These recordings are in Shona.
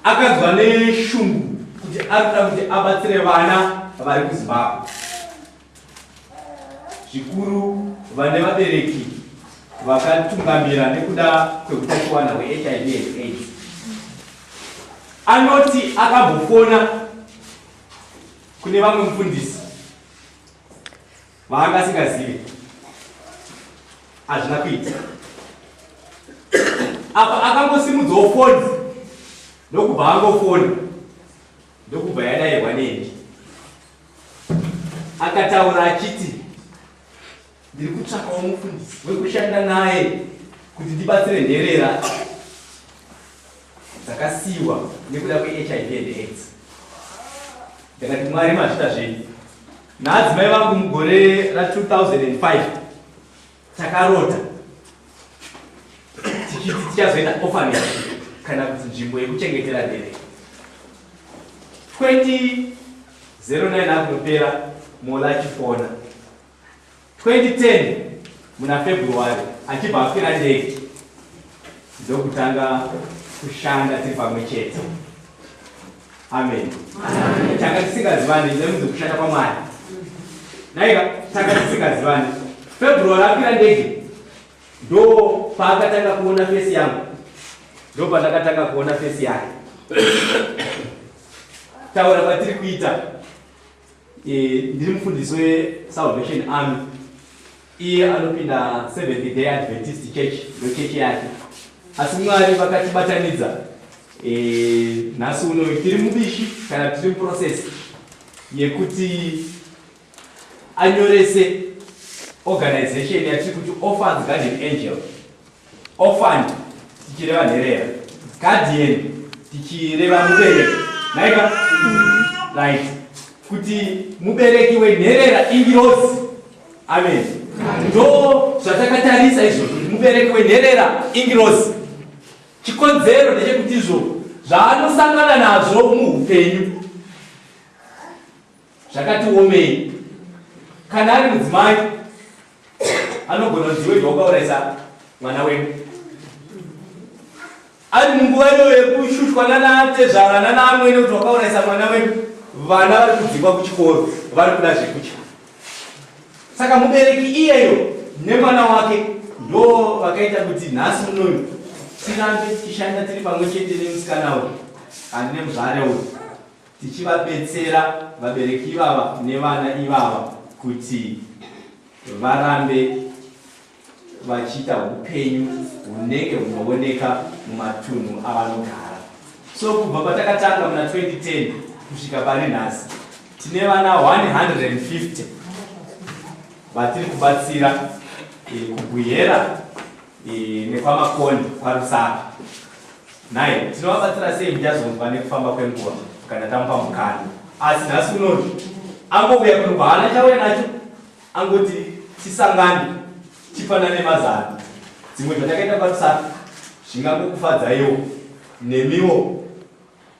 akanzwa neshungu kuti ari kuda kuti abatsire vana vari kuzimbabwe zvikuru vane vabereki vakatungamira nekuda kweutachiwana hwehiv and aids anoti akambofona kune vamwe mufundisi Vaanga asingazive hazvina kuita apa akangosimudzawo foni ndokubva angofoni ndokubva yadairwa neni akataura achiti ndiri kutsvakawo mufundisi wekushanda naye kuti ndibatsire nherera dzakasiyiwa nekuda kwehiv and aids ndakati mwari mazvita zvenyu Naadzimai vangu mugore ra 2005 takarota tichiti tichazoita orphanage kana kuti nzvimbo yekuchengetera dere 2009 akunopera mola chifona 2010 muna February achibva akwira ndege ndokutanga kushanda tiri pamwe chete. Amen. Tanga tisingazivani nemuzi kushanda kwaMwari. Naika tanga tisingazivani. February akwira ndege ndo paakatanga kuona fesi yangu ndo pandakatanga kuona fesi yake taura kwatiri kuita Eh, ndiri mufundisi wesalvation army iye anopinda seventh day adventist church ndochechi yake asi mwari vakatibatanidza eh, nhasi uno tiri mubishi kana tiri muprocess yekuti anyorese organization yatiri kuti orphans garden angel Orphan tichireva nherera. Guardian tichireva mubereki. Naika? Right. Kuti mubereki wenherera ingirozi. Amen. Ndo zvatakatarisa izvo kuti mubereki wenherera ingirozi. Chikonzero ndechekuti izvo zvaanosangana nazvo muupenyu zvakati womei kana ari mudzimai anogona kuti iwe zvawakauraisa mwana wedu ari munguva iyo yekushushwa nanatezvara nanaamwene kuti wakauraisa mwana wedu vana vari kudzingwa kuchikoro vari kuda zvekutya saka mubereki iyeyo nemwana wake ndo vakaita kuti nhasi unoyu tirambe tichishanda tiri pamwe chete nemusikana uyu handine muzvare uyu tichivabetsera vabereki ivava nevana ivava kuti varambe vachiita upenyu hunenge hunooneka mumatunhu avanogara so kubva patakatanga muna 2010 kusvika pari nhasi tine vana 150 vatiri kubatsira eh, kubwihera nekwamakoni kwaRusaka naye tinovabatsira sei muchazonzwa nekufamba kwenguva kana tamupa mukana asi nhasi unoti angovuya kuno kwaana chauya nacho angoti tisangane tifanane mazano dzimwe dzatakaita kwaRusaka zvingangokufadzaiwo nemiwo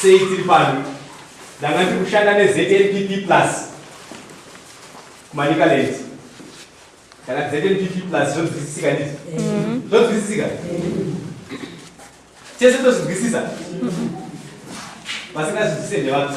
Sei tiri pano? Ndanga ndiri kushanda neZNPP plus kuManicaland. Kana ZNPP plus zvodzidzisika ndizvo. Mm-hmm. Zvodzidzisika. Chese tozvigwisisa. Vasingazvidzise ndevanhu.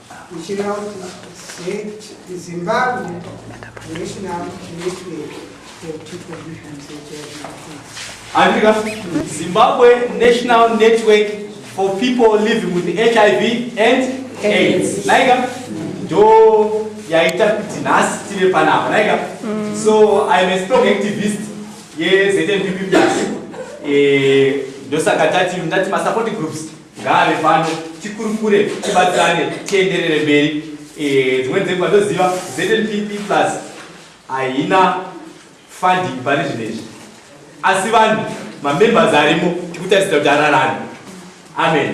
Ndichireva kuti Zimbabwe National Network Andika, Zimbabwe National Network for people living with HIV and AIDS. Naika, ndo yaita kuti nhasi tive panapa. Naika, mm. so I am a strong activist yeZNPP Plus. Eh, ndosaka tati ndati ma support groups ngaave pano tikurukure tibatsirane tienderere mberi eh, dzimweni dzenguva ndoziva znpp plus haina funding pane zvinhu izvi asi vanhu mamembers arimo tikutarisira kuti ararani amen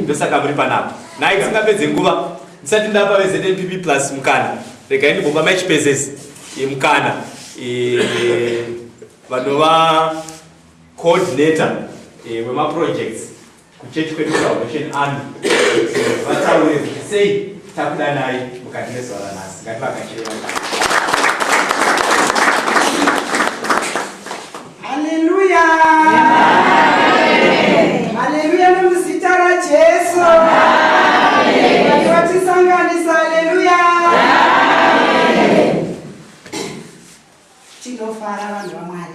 ndosaka muri panapa nai tisingapedze nguva ndisati ndapa veznpp plus mukana regai ndibomba maichipezesi eh, mukana eh, vanova Coordinator eh, wema projects kuchechi kwedu Salvation Army vataure kuti sei takudanai mukati mezuva ranhasi ngativakachire Haleluya! Haleluya nomuzita raJesu! Vati vatisanganisa, haleluya! Tinofara vanhu vamwari.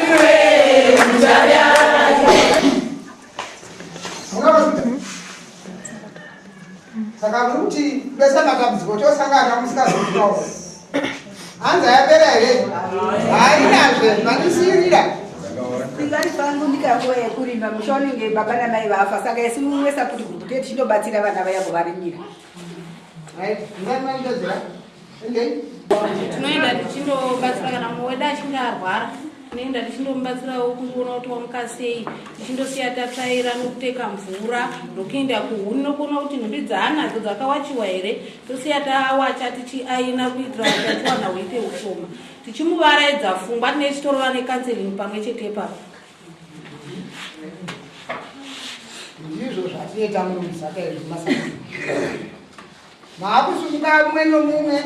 saka muri kuti bese matambudziko tiosangana musikazoiao hanzi ayapera here hainazve mandisiyirira ingani pangu ndikakoye kurima musha unenge baba namai vafa saka isi mumwe saputi guduketi chinobatsira vana vaya kuvarimira tinoenda tichindobatsira kana mumwe wedu achinge arwara tinoenda tichindomubatsirawo kungoona kuti wamuka sei tichindosiya tatsvaira nokuteka mvura nokuenda kuhuni nokuona kuti nhumbi dzaanadzo dzakawachiwa here tosiya tawacha tichiaina kuitira kuti achiwana huite ushoma tichimuvaraidza fungwa tine chitorova nekanseling pamwe chete ipapo ndizvo zvatiita murumisaka izvi masaa maakusumuka mumwe nomumwe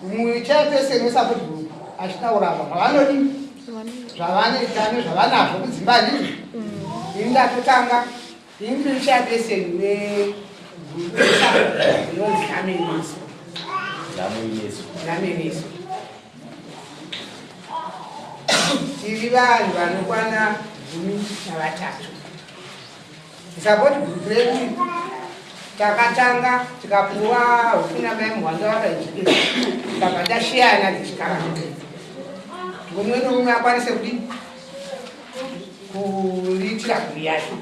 muicha pese nesakuti group achitaura ava zvavanodi zvavanoita nezvavanazvo kudzimba ndizvo ini ndatotanga Hindu ichairberseni we gurusa inonzi Dhameniso. Dhameniso. Dhameniso. Tiri vanhu vanokwana gumi navatatu. Support group redu takatanga tikapuwa hukuna mai muhwanga vakaijikira takabva tashiyana tichikara mumwe nomumwe akwanise kudii kuitira kuyayo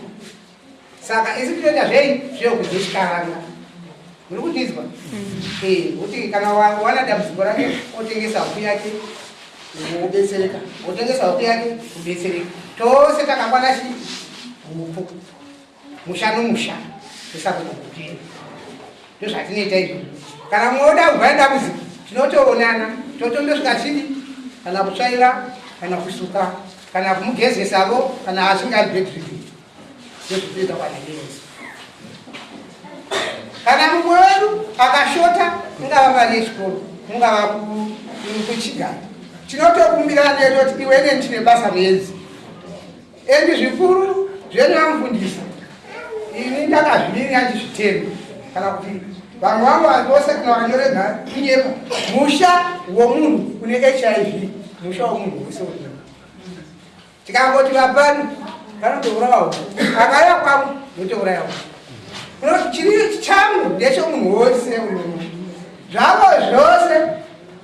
saka isi tinoita zvei zvekudzishikaranga muri kundinzwa mm. kuti kana wana dambudziko rake otengesa huku yake wobetsereka wotengesa huku yake wobetsereka tose takakwana chii huku musha nomusha tisakugukire ndozvatinoita izvo kana mumwe oda kubva nedambudziko tinotoonana totondosvika chidi kana kutsvaira kana kusuka kana kumugezesavo kana asingadi bedridin ndozvitoita kwanaienzi kana mumwe wedu akashota ingava pane chikoro ingava kuchigara tinotokumbirana netoti iwene ndine basa muenzi Endi zvikuru zvenyu amufundisa ini ndakazvimiri achizvitema kana kuti vamwe vangu vanhu vose kana vanyorega kunyepa musha womunhu kune hiv musha womunhu wese unyepa tikangoti vapani vanotourawawo akaya kwavo votourayawo unoti chiri changu ndechomunhu wose unomu zvavo zvose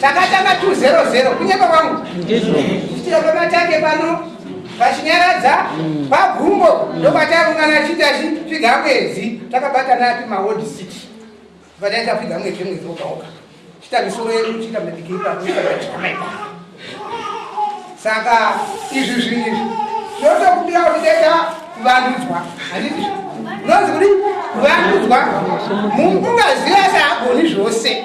Takatanga 200 kunyepa kwangu. Ndizvo. Kuitira pamatake pano vachinyaradza pagumbo mm. ndokwataungana achiti achipfiga mwedzi takabatana ati mawod city vataita pfiga mwedzi mwedzi wogaoga chita misoro yedu chita medikiipakuaaaa saka izvi zvinizvi ndotokubira kuti deta kuvandudzwa handizvi unonzi kuti kuvandudzwa mungaziva saagoni zvose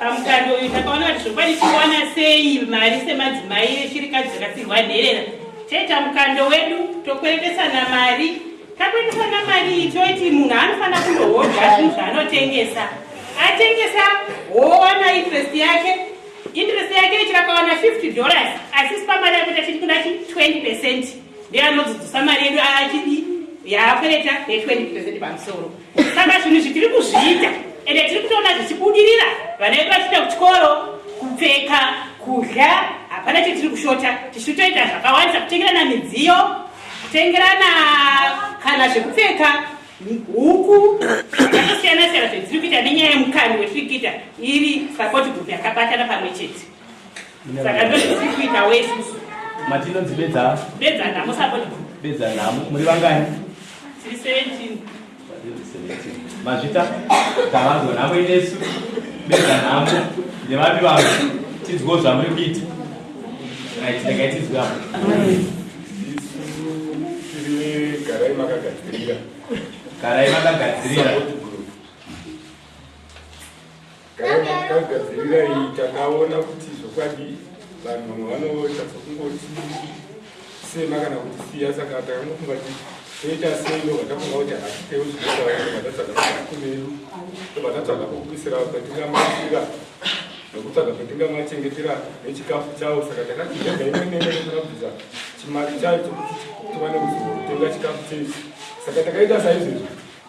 pamukando uyu takaona kuti zvokwadi tikuwana sei mari semadzimai vechirikadzi dzakasirwa nherera taita mukando wedu tokweretesana mari takweretesana mari iyi toiti munhu anofanira kunohodha zvinhu zvaanotengesa atengesa wowana interest yake interest yake ichirakawana 50 dollars asi sipamari yako tachiti kuna chi 20 percent ndeanodzidzisa mari yedu achidi yaakwereta ne 20 percent pamusoro Saka zvinhu izvi tiri kuzviita ende tiri kutoona zvichibudirira, vana vedu vachienda kuchikoro, kupfeka, kudya, hapana chetiri kushota. Tichiri kutoita zvakawandisa, kutengerana midziyo, kutengerana kana zvekupfeka, huku zvakasiyana siyana zvetiri kuita nenyaya yemukani wetiri kuita iri sapoti group yakabatana pamwe chete. saka ndozvitiri kuita wesusu matinonzi bedza bedza nhamo sabodi bedza nhamo muri vangani tiri 17 mazvita tavanzwa nhamo inesu bedza nhamo nevapi vanhu tinzwewo zvamuri kuita right regai tinzwe apo garai makagadzirira garai makagadzirira Takagadzirira iyi takaona kuti zvokwadi vanhu vanoita sokungoti sema kana kuti siya saka takangofunga kuti toita sei ndobva tafunga kuti hatitewo zvinotaura tatsvaga kumeru tobva tatsvaga pokuisira patingamasira nekutsvaga patingamachengetera nechikafu chavo saka takati takaimeneeabvisa chimari chayo chokuti tiwane kuzotenga chikafu chechi saka takaita saizvezvi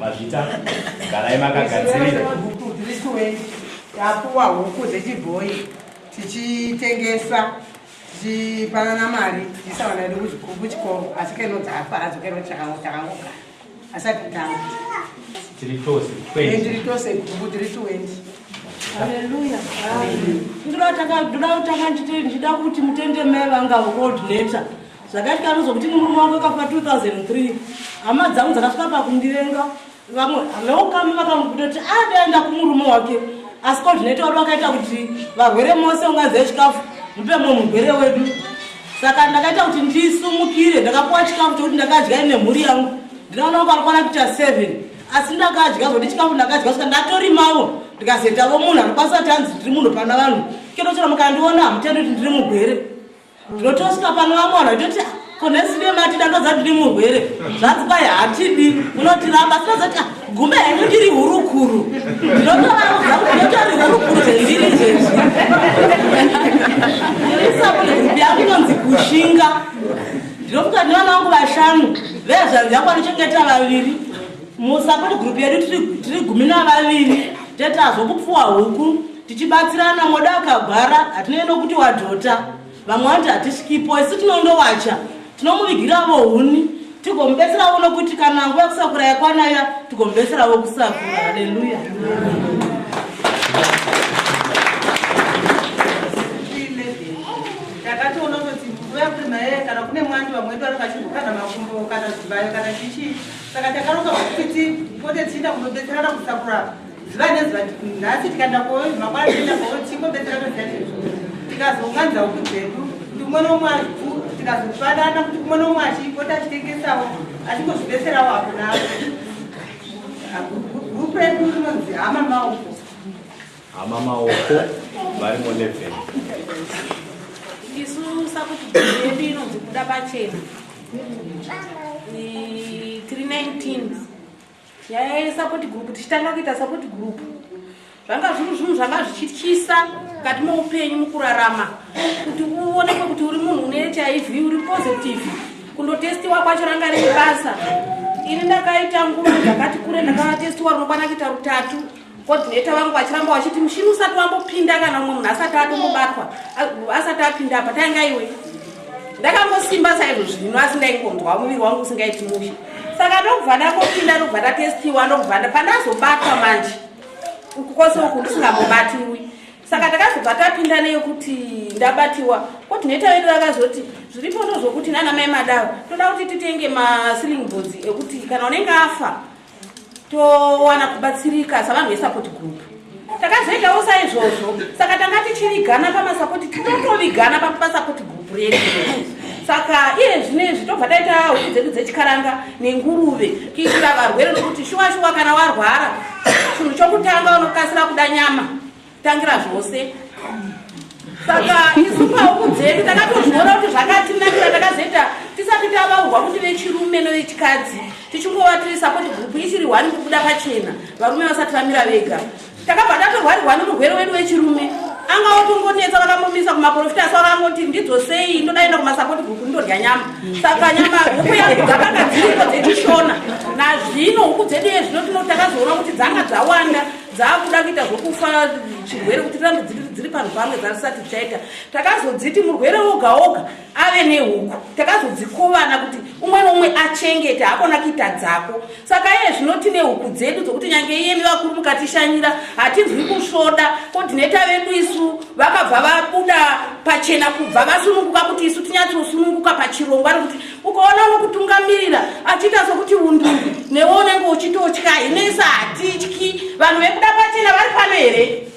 Mazvita garai makagadzirira. Tapuwa huku dzechibhoyi tichitengesa tichipanana mari tichiisa vana vedu kuchikoro asi keno dzafa hadzo keno takangogara asati tanga tiri tose tiri tose guku tiri twendi ndinoda kuti mutende mai vanga road letter zvakaita ruzo kuti nemurume wangu akafa 2003 hama dzangu dzakasvika pakundirenga vamwe veukama vakambuda kuti adaenda ah, kumurume wake asi ko zvinoita wari vakaita kuti varwere mose ungaziva chikafu mupe mwe murwere wedu saka ndakaita kuti ndisumukire ndakapuwa chikafu chekuti ndakadya ine mhuri yangu ndinoona kuti varikwana kuita seven asi ndakadya zvokuti chikafu ndakadya saka ndatorimawo ndikazoitavo munhu anokwanisa kuti hanzi ndiri munhu pana vanhu kinochera mukandiona hamutendi kuti ndiri mugwere ndinotosvika pano vamwe vanhu vaitoti ah, konesive mati ndandoza ndiri murwere zvanzi kwai hatidi unotiramba sinozoti ah, gume henyu ndiri hurukuru ndinotovaudza kuti ndotori hurukuru zvendiri izvezvi isabune grupu yangu inonzi kushinga ndinofuka ndivana vangu vashanu vezvanzi yangu vanochengeta vaviri Musupport group yedu tiri gumi navaviri tatazwa kupfuwa huku tichibatsirana moda akagwara hatinei nokuti wadhota vamwe vanoti hatisvikipo isu tinondowacha tinomuvigiravo huni tigomubetseravo nokuti kana nguva kusakura yakwanaya tigomubetseravo kusakura haleluya takatoona kuti nguva yakurima yeye kana kune mwandi vamwedu vari vachigukana makumbo kana zvibayo kana chichii saka takaronga kuti tipote tichienda kunobetserana kusakura zuva nezuva nhasi tikaenda koi mangwana tienda koi tichingobetserana ziyazvezvo tikazounganidza huku dzedu kuti umwe nomwe azivu tikazofanana kuti umwe nomwe achipota achitengesawo achingozvibetserawo apo naapo gurupu redu rinonzi hama mauko Hama Maoko vari mu 11. Isu sakuti yedu inonzi kuda pachena. Ni 319. Yaya support group tichitanga kuita support group. Zvanga zviri zvinhu zvanga zvichityisa mukati moupenyu mukurarama kuti uonekwe kuti uri munhu une hiv uri positive kundotestiwa kwacho ranga riri basa ini ndakaita nguva ndakati kure ndakatestiwa rinokwana kuita rutatu coordinator vangu vachiramba vachiti mushini usati wambopinda kana umwe munhu asati atomubatwa asati apinda apa tainga iwe ndakangosimba saizvo zvino asi ndaingonzwa muviri wangu usingaiti mushe saka ndokubva ndakopinda ndokubva ndatestiwa ndokubva pandazobatwa manje uku kwose uku ndisingambobatiwi saka takazobva tapinda neyokuti ndabatiwa coordinator vedu vakazoti zviripo ndozvokuti nana mai madavo toda kuti titenge masiling boards ekuti kana unenge afa towana kubatsirika savanhu vesupport group takazoitawo saizvozvo saka tanga tichivigana pamasapoti titotovigana pasapoti group redu saka iye zvino izvi tobva taita huku dzedu dzechikaranga nenguruve kuitira varwere nokuti shuwa shuwa kana warwara chinhu chokutanga unokasira kuda nyama tangira zvose saka isu pauku dzedu takatozviona kuti zvakatinakira takazoita tisati tavaurwa kuti vechirume nevechikadzi tichingova tiri sapoti gurupu ichiri hwani kubuda pachena varume vasati vamira vega takabva tatorwarirwa nomurwere wedu wechirume anga otongonetsa vakambomisa kumaprofita asi vakangoti ndidzo sei ndodaenda kumasapoti gurupu ndodya nyama saka nyama huku yangu dzakanga dziriko dzechishona nazvino huku dzedu yezvino tinoti takazoona kuti dzanga dzawanda dzaakuda kuita zvekufa chirwere kuti rambe dziri panhu pamwe dzasati chaita takazodziti murwere woga woga ave nehuku takazodzikovana kuti umwe noumwe achengete hakona kuita dzako saka iye zvino tine huku dzedu dzokuti nyange iyemi vakuru mukatishanyira hatinzwi kusvoda ko tineta vedu isu vakabva vabuda pachena kubva vasununguka kuti isu tinyatsosununguka pachirongwa rekuti ukaona anokutungamirira achiita sokuti unduru newe unenge uchitotya hine isa hatityi vanhu vekuda pachena vari pano here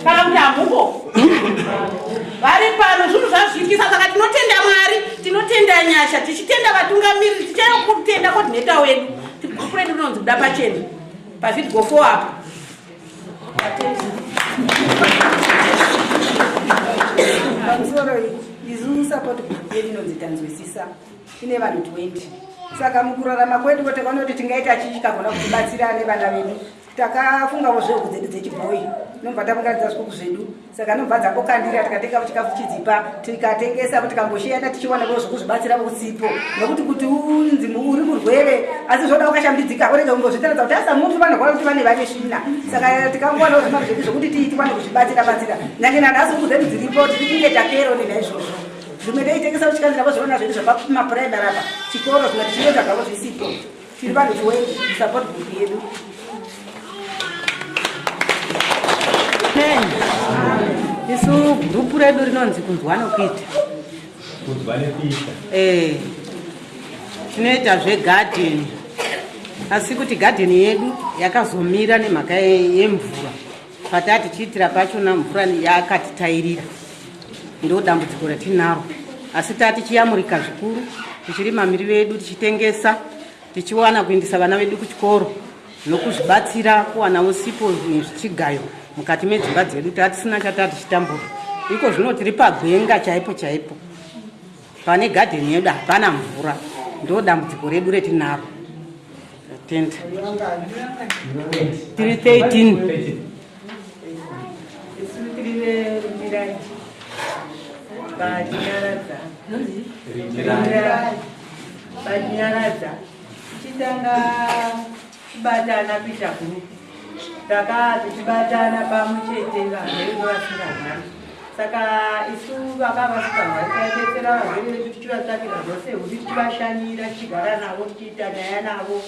kana kuti hamuko vari pano zvinhu zvazviitisa saka tinotenda mwari tinotenda nyasha tichitenda vatungamiriri tichitenda kutenda kodhineta wedu tikuredu unonzi kuda pachena pavidgo fo apo pamusoro izu support group yedu inonzi tanzwisisa ine vanhu 20 saka mukurarama kwedu ko takaona kuti tingaita chii chikagona kutibatsira nevana vedu takafungavo zvehuku dzedu dzechibhoyi nobva taunganidza zvikuku zvedu saka anobva dzakokandira tikatenga chikafu chidzipa tikatengesa tikamboshiyana tichiwana vo zvekuzvibatsira vosipo nokuti kuti unzi uri murwere asi zvoda ukashambidzika urege kumbozvitaradza kuti asa mutu vanorwara kuti vane vane svina saka tikangowana zvimari zvedu zvekuti tiitikwane kuzvibatsira batsira nyange nanhasi uku zvedu dziripo tiri kunge takero nenaizvozvo zvimwe teitengesa kuchikandiravo zvoona zvedu zvapamapuraimari apa chikoro zvimwe tichienda zvavo zvisipo Tiri vanhu chiwedi support group yedu. Isu group redu rinonzi kunzwa nokuita. Kunzwa nokuita. Eh. Tinoita zve garden. Asi kuti garden yedu yakazomira nemhaka yemvura. Patati chiitira pachona mvura yakatitairira ndo dambudziko ratinaro asi tati chiyamurika zvikuru tichirima miri vedu tichitengesa tichiwana kuindisa vana vedu kuchikoro nokuzvibatsira kuwana usipo nezvichigayo mukati medzimba dzedu tatisina chatati chitambura iko zvino tiri pagwenga chaipo chaipo Pane garden yedu hapana mvura, ndo dambudziko redu retinaro. Tent. Tiri 13. Batinyaradza. Batinyaradza. Chitanga Tibatana kuita group. Takati tibatana pamwe chete varwere vasingarwari. Saka isu vakava vasikarwari taibetsera varwere vedu tichivatsvakira zvose huti tichivashanyira tichigara navo tichiita nyaya navo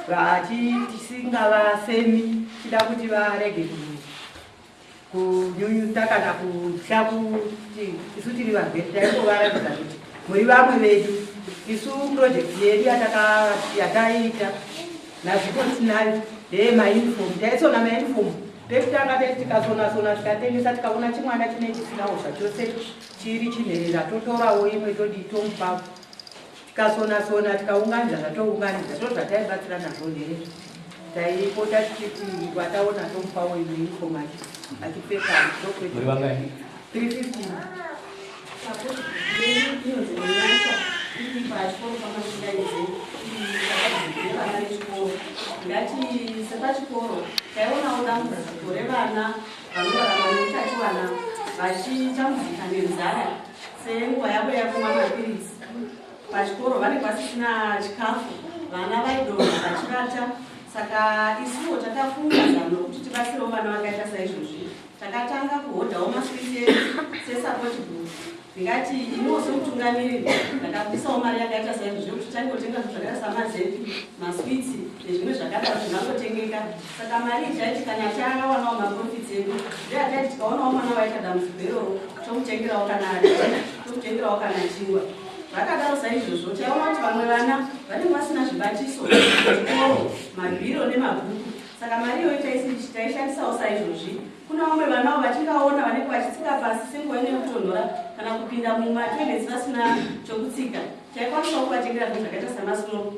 vati tisingavasemi tida kuti varege kuita kunyunyuta kana kutya kuti isu tiri varwere taingovaratidza kuti muri vamwe vedu isu purojekti yedu yataiita nazviko tinayo ndeye maunifomu taisona maunifomu pekutanga tei tikasonasona tikatengesa tikaona chimwana chine chisinawo zvachose chiri chinherera totorawo imwe todii tomupapo tikasona sona tikaunganidza zvatounganidza to zvataibatsira nazvo here taipota tichiti wataona tomupawo imwe informati achipfeka tokwete 350 Senguva yavo yakumwa mapiritsi pachikoro vanenge vasisina chikafu, vana vaidonha vachivata. Saka isuwo takafunga zano rokuti tibatsirewo vana vakaita saizvozvi. Takatanga kuhodhawo maswiti edu sesapoti group. Ndingati iniwo semutungamiriri ndakabudisawo mari yakaita saizvozvi yokuti tange kutenga zvakaita samazepi, maswitsi nezvimwe zvakadaro zvingangotengeka. Saka mari ichaiti kana achaya akawanawo maprofits edu ndiye achati tikaonawo mwana waita dambudziko iroro tokutengerawo kana tokutengerawo kana chingwa vakadaro saizvozvo taiona kuti vamwe vana vanenge vasina zvibatiso zvikoro mabhiro nemabhuku saka mari iyoyo taishandisawo saizvozvi kuna vamwe vanawo vatingaona vanenge vachitsika pasi senguva ine kutonhora kana kupinda mumatoilets vasina chokutsika taikwanisawo kuvatengera zvinhu zvakaita samasnow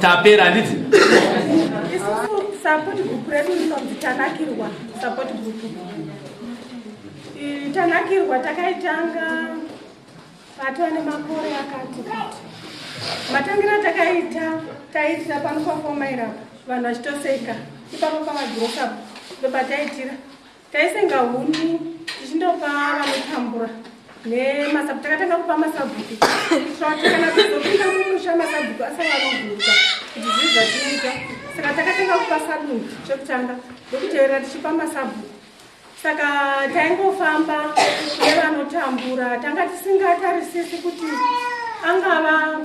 tapera handiti support group redu rinonzi tanakirwa support group tanakirwa takaitanga patova nemakore akati kuti matangira takaita taiitira pano pafomaira vanhu vachitoseka ipapo pamagrosapo ndobataitira taisenga huni tichindopa vanotambura nemasabu takatanga kupa masabhuku kuti kana tizopinda mumusha masabhuku asavanovhurika kuti zvii zvatinoita saka takatanga kupa sadunhu chekutanga ndokutevera tichipa masabhuku saka taingofamba nevanotambura tanga tisingatarisisi kuti angava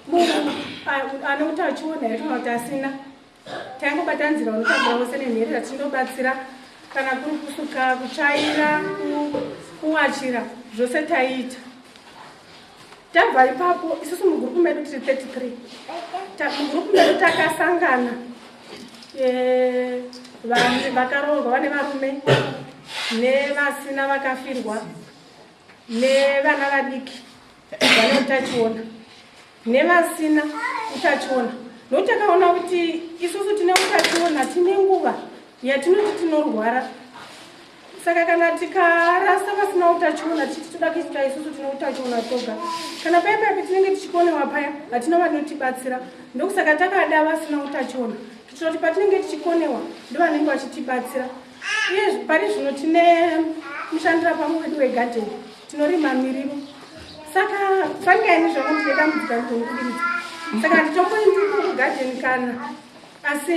munhu ane utachiona here kana kuti asina taingobata nzira unotambura vose nenherera tichinobatsira kana kuri kusuka kutsvaira kuwachira zvose taiita tabva ipapo isusu mugurupu medu tiri 33 mugurupu medu takasangana eh, vanhu vakaroorwa vane varume nevasina vakafirwa nevana vadiki vane utachiona nevasina utachiona nokuti takaona kuti isusu tine utachiona tine nguva yatinoti tinorwara saka kana tikarasa vasina utachiona titi toda kuita isusu tine utachiona toga kana paya paya patinenge tichikonewa paya hatina vanotibatsira ndokusaka takada vasina utachiona kuitira kuti patinenge tichikonewa ndovanenge vachitibatsira Iye pari zvino tine mushandira pamwe wedu wegarden tinorima mirivo saka fangani zvangu ndine dambudzika ndongubiridza saka nditomboindiko kugarden kana asi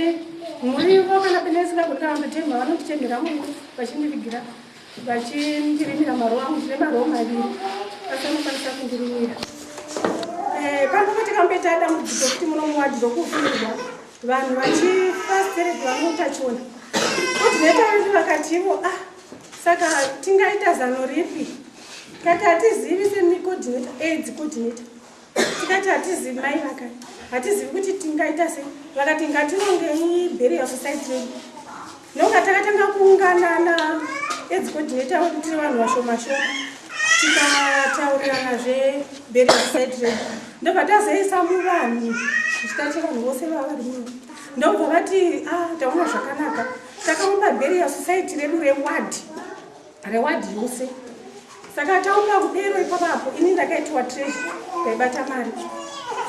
murivo kana pene isingagoni kana ndotemha vanotitemhera murivo vachindivigira vachindirimira marowa angu tine marowa maviri asi anokwanisa kundirimira eh, panokotika mbetada mudzidzo kuti munomuwadzi dzokufirirwa vanhu vachifasitiridwa neutachiona kudineta vedu vakati ivo ah saka tingaita zano ripi tikati hatizivi semicodineta aids codineta tikati hatizivi mai vaka hatizivi kuti tingaita sei vakati ngatinongei bheri yasociety redu Ndoka takatanga kuungana na edzi coordinator wedu tiri vanhu vashoma shoma tikataurirana zve burial site redu ndobva tazoisa muvanhu zvichitache vanhu vose vava vari muno ndobva vati ah taona zvakanaka takaumba burial society redu reward Reward yose. Saka taunga kudero ipapapo ini ndakaitwa treasure paibata mari.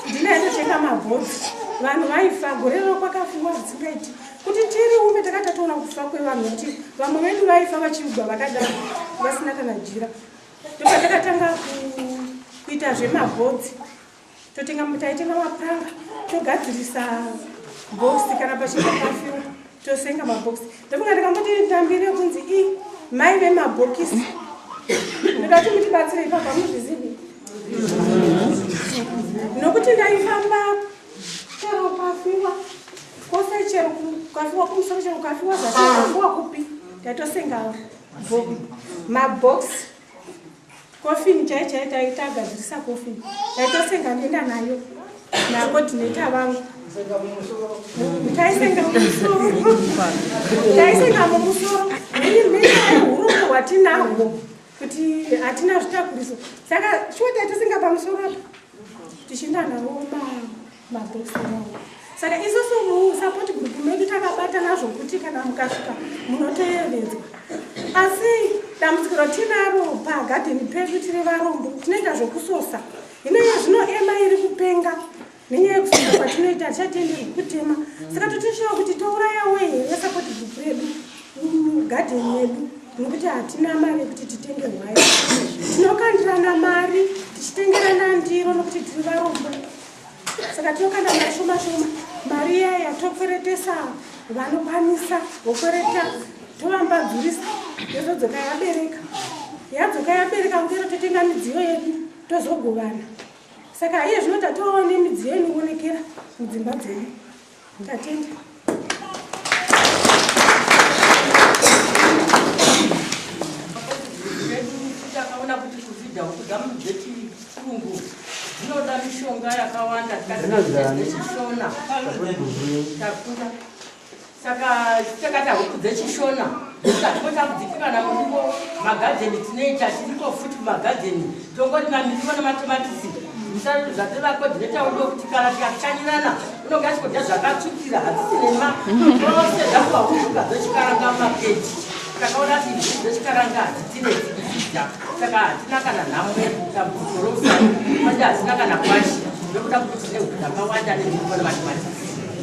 Ndina yatotenga mabhodzi. Vanhu vaifa gore rero kwakafungwa zvisingaiti. Kuti tiri ume takatatoona kufa kwevanhu kuti vamwe vedu vaifa vachiugwa vakadaro vasina kana jira. Ndopatakatanga kuita zvemabhodzi. totenga mutaitenga mapuranga togadzirisa bhoxi kana pachinga pafio tosenga mabhoxi ndofunga ndakamboti ndambiri yekunzi i mai vemabhokisi ndikati mutibatsire ipapa muzvizivi nokuti ndaifamba chero kwafiwa kwose chero kwafiwa kumusoro chero kwafiwa zvakuwa kupi ndaitosenga mabhoxi Coffin chai chai taitagadzirisa coffin taitosenga ndienda nayo nakodineta vangu taisenga mumusoro taisenga mumusoro urumbo hwatinahwo kuti hatina zvitakuriso saka shuwa taitosenga pamusoro apa tichienda navo baa saka isusu musupport group medu takabatana zvokuti kana mukasvika munoteyevedzwa asi dambudziko ratinaro pagadheni pedu tiri varombo tinoita zvekusosa hino iye zvino ema iri kupenga nenyaya yekusosa kwatinoita hatichatenderwi kutema saka totishawa kuti tourayawo here support group redu mugadheni yedu nokuti hatina mari yekuti titenge hwai tinokandirana mari tichitengerana ndiro nokuti tiri varombo saka tinokanda mari shoma shoma mari iya yatokweretesa vanokwanisa vokwereta tovambadzurisa yozodzoka yabereka yadzoka yabereka kukero totenga midziyo yedu tozogovana saka iye zvino tatoone midziyo inoonekera mudzimba dzedu Ndatenda. Zvinoda mishonga yakawanda zvishona. Takura. Saka takata huku dzechishona. Mukatiko takudzitika na muriwo magadheni tinoita tiriko futi kumagadheni tongoti mamiriwo nematomatisi musariro zvati vakodhineta udo kuti kana tikachanyirana unonga chikodya zvakatsvukira hadzisi nema ose zvakuva huzuka dzechikaranga makeji takaona ti zii dzechikaranga hadzitine dzikudzidza saka hatina kana nhamo yekutambuziko rousai manje hatina kana kwashi nekuda kuti tine huku dzakawanda nezviriwo nematomatisi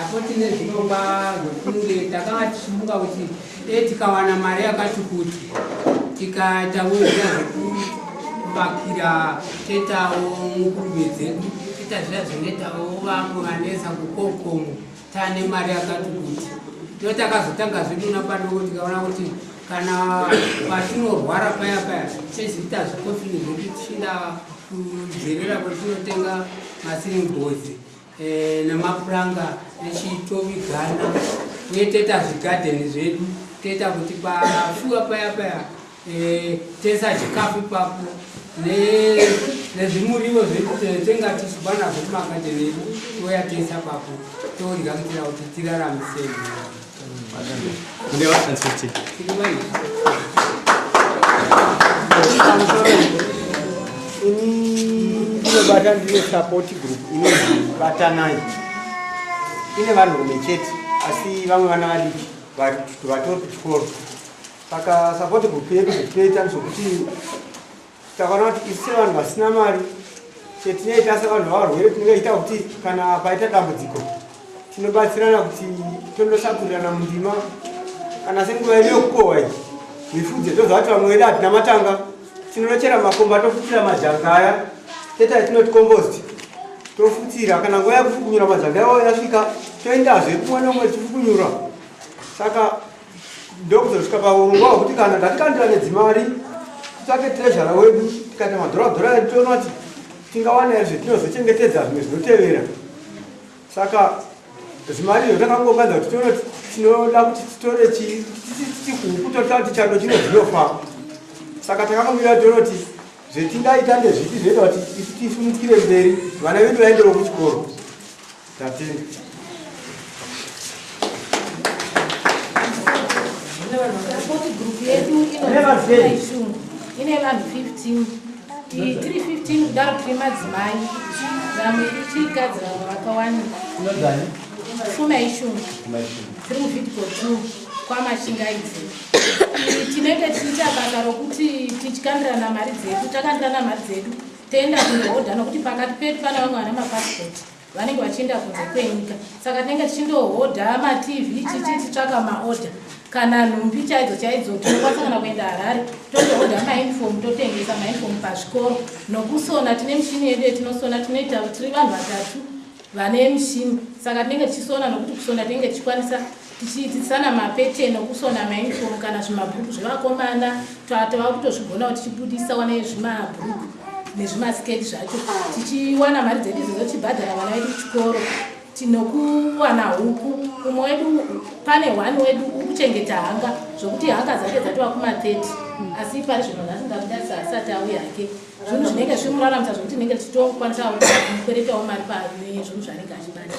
Apo tine zvirongwa zvekunge takanga tichimuka kuti dai tikawana mari yakati kuti tikaita wezvia zvekuvakira tetawo nguruve dzedu teta zviya zvinoitawo vamwe vanetsa kukokomo taane mari yakati kuti ndo takazotanga zvedu napadoko tikaona kuti kana patinorwara paya paya tichizoita zvikofini zvedu tichienda kujerera kwetinotenga masiringozi eh, nemapuranga echitovigana uye toita zvigadheni zvedu toita kuti pafuwa paya paya eh, toisa chikafu ipapo nezvimurivo zvetenga tichiba nazvo kumagadheni edu toya toisa papo todya kuitira kuti tiraramisei ini ndinobata ndine support group inonzi batanai ine vanhurume chete asi vamwe vana vadiki vatori kuchikoro saka support group yedu zvitinoita ndezvekuti takaona kuti isu sevanhu vasina mari chetinoita sevanhu vavarwere tinoita kuti kana paita dambudziko tinobatsirana kuti tondosakurirana mundima kana senguva yedu yokukohwa iyi mifudze tozvati vamwe vedu hatina matanga tinonochera makomba tofutira majanga aya teta yatinoti kombosti tofutira kana nguva yekufukunyura majanga yavo yasvika toendazve kumwe nomwe tifukunyura saka ndokuzosvika paurongwa hwekuti kana tatikandirane dzimari titsvake trezhara wedu tikaita madhoradhora edu toona kuti tingawana here zvetinozochengetedza zvimwe zvinotevera saka zvimari izvo takangoganza kuti tione kuti tinoda kuti titore chihuku totaa kuti chando chino zvinofa saka takakamira toona kuti zvetingaita ndezvipi zvinoita kuti isu tisimukire mberi vana vedu vaendewo kuchikoro Tatenda. Support group yedu inoshungu ine vanhu 15 tiri 15 kudaro tiri madzimai vamwe ichikadzi vamwe vakawani suma ishungu tiri muvidiko t kwamashingaidzi tinenge tichiita basa rokuti tichikandirana mari dzedu takandirana mari dzedu toenda kunohodha nokuti pakati pedu pana vamwe vana mapasipoti vanenge vachienda kunze kwenyika saka tinenge tichindohodha matv chichi titsvaka maodha kana nhumbi chaidzo chaidzo tinokwanisa kana kuenda harare totohodha mainifom totengesa mainifom pazvikoro nokusona tine mishini yedu yetinosona tinoita tiri vanhu vatatu vane mishini saka tinenge tichisona nokuti kusona tinenge tichikwanisa tichiitisana mapeteni okusona mainifom kana zvimabhuruku zvevakomana tava kutozvigonawo tichibudisa wana yezvimabhuruku nezvimasketi zvacho tichiwana mari dzedu idzo dzochibhadhara vana vedu kuchikoro tinokuwana huku umwe wedu pane one wedu ukuchengeta hanga zvokuti hanga dzake dzatova kuma30 asi pari zvino nasingakudarisa asati auye hake zvinhu zvinenge zvimuraramisa zvokuti nenge tichitokwanisa kukweretawo mari pazvinhu zvanenge achibata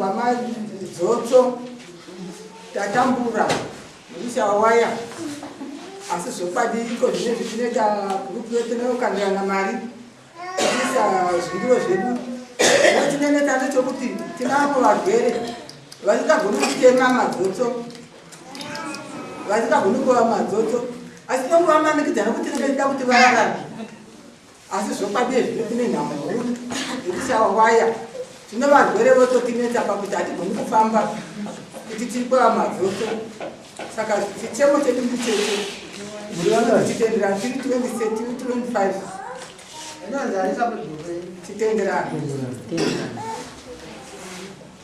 wamadzotso tatambura nekushawaya asi zvokwadi iko zvine zvichinoita group yetinokandirana mari tiisa zvingiro zvedu tineneta nechokuti tinavo varwere vasingagoni kutema madzotso vasingagoni kuva madzotso asi tongovamanikidzana kuti tinenge tida kuti vararame asi zvokwadi zvino tine nhamo huru nekuti ava waya tino varwere vototinetsa pakuti hatigoni kufamba kuti tiri kwava madzoso saka chichemo chedu ndicheche titenderana tiri 20 tiri 25 titenderana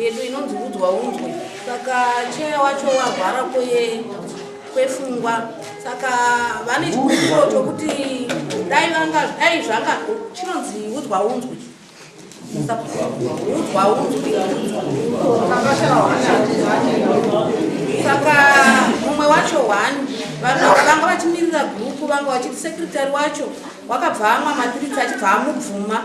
yedu inonzi udzwa unzwe saka cheya wacho warwara kwefungwa saka vane chikumbiro chokuti dai vanga dai zvanga chinonzi udzwa unzwe udzwa unzwe saka mumwe wacho one vanga vachimirira gurupu vanga vachiti sekretary wacho wakabva amwa matiritsi achibva amubvuma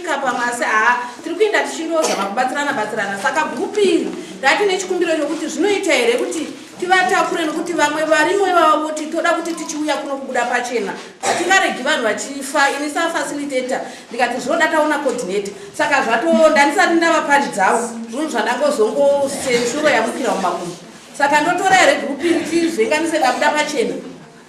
pamwe asi haa tiri kuenda tichindozama kubatsirana batsirana saka bhupiri rati nechikumbiro chokuti zvinoita here kuti tivatakure nokuti vamwe varimo ivavo voti toda kuti tichiuya kuno kubuda pachena hatingaregi vanhu vachifa ini safacilitator ndikati zvinoda taona coordinator saka zvatonda ndisati ndavaparidzawo zvunhu zvandangozongosenzuro yamukira mumakumbo saka ndotora here group iri tizvenganise ndabuda pachena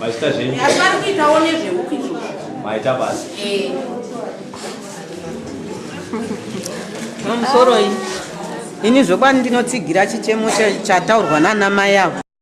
vachita zvenyu asi vari kuitawo nezvehuku izvozvo maita basa mamusoroi ini zvokwadi ndinotsigira chichemo chataurwa nana mai avo